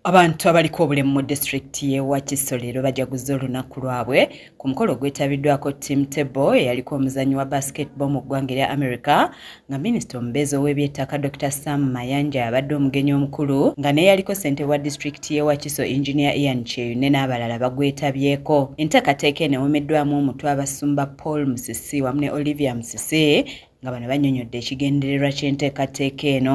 Abantu abaliko obulemu mu disitulikiti y'e Wakiso leero bajaguzza olunaku lwabwe ku mukolo ogwetabiddwako Tim Tebow eyaliko omuzannyi wa basketball mu ggwanga erya America nga minisita omubeezi ow'ebyettaka Dr Sam Mayanja abadde omugenyi omukulu nga n'eyaliko ssentebe wa disitulikiti y'e Wakiso Engineer Ian Kyeyune n'abalala bagwetabyeko. Enteekateeka eno ewomeddwamu omutwe abasumba Paul Musisi wamu ne Olivia Musisi nga bano banyonyodde ekigendererwa ky'enteekateeka eno.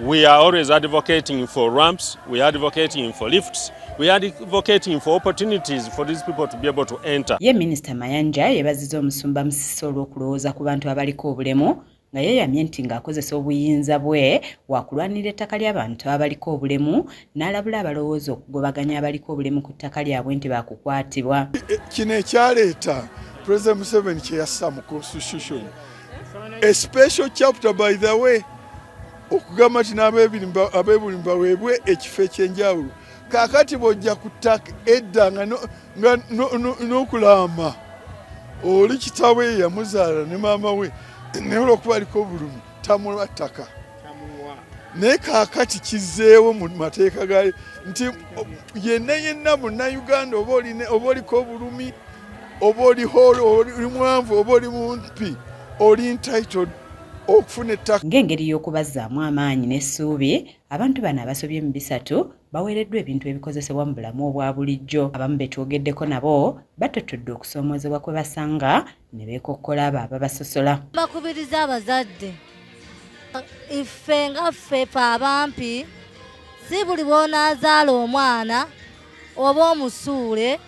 We are always advocating for ramps, we are advocating for lifts, we are advocating for opportunities for these people to be able to enter. Ye Minister Mayanja yebaziza omusumba Musisi olw'okulowooza ku bantu abaliko obulemu nga yeeyamye nti ng'akozesa obuyinza bwe waakulwanirira ettaka ly'abantu abaliko obulemu n'alabula abalowooza okugobaganya abaliko obulemu ku ttaka lyabwe nti baakukwatibwa kino ekyaleeta president museveni kye yassa mu constitution a special chapter by the way okugamba nti n'abeebuli baweebwe ekifo ekyenjawulo kakati bwojja ku ttaka edda nga n'okulaama oli kitawe yamuzaala ne maama we naye olwokuba aliko obulumi tamulwa ttaka naye kakati kizeewo mu mateeka gayo nti yenna yenna munnayuganda oba oliko obulumi oba oli holo oli mwanvu oba oli mumpi oli entitled okufuna ettaka ng'engeri y'okubazzaamu amaanyi n'essuubi abantu bano abasobye mu bisatu baweereddwa ebintu ebikozesebwa mu bulamu obwa bulijjo abamu be twogeddeko nabo batottodde okusoomoozebwa kwe basanga ne beekokkola abo ababasosola bakubiriza abazadde iffe nga ffe fe abampi si buli bw'onaazaala omwana oba omusuule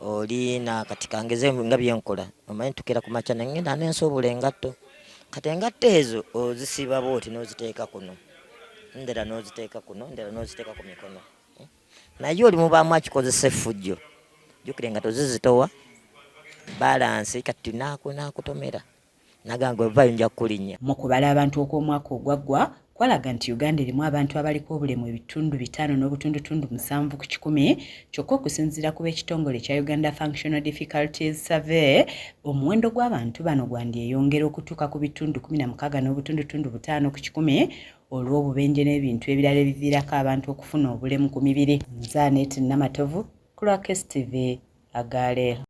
oli na kati kangeze nga byenkola omanyi tukira ku makya nengenda nensuubula engatto kati engatto ezo ozisiba bwoti noziteeka kuno ndera noziteeka kuno ndera noziteeka ku mikono hmm? naye oli mubaamu akikozesa effujjo jukire nga tozizitowa balansi kati nakutomera nagamba ovayo nja kukulinnya mu kubala abantu okw'omwaka ogwaggwa kwalaga nti uganda erimu abantu abaliko obulemu ebitundu bitaano n'obutundutundu musanvu ku kikumi kyokka okusinziira ku b'ekitongole ekya uganda functional difficulties survey omuwendo gw'abantu bano gwandyeyongera okutuuka ku bitundu kumi na mukaaga n'obutundutundu butaano ku kikumi olw'obubenje n'ebintu ebirala ebiviirako abantu okufuna obulemu ku mibiri nzaanet namatovu ku lwa kstv agaaleero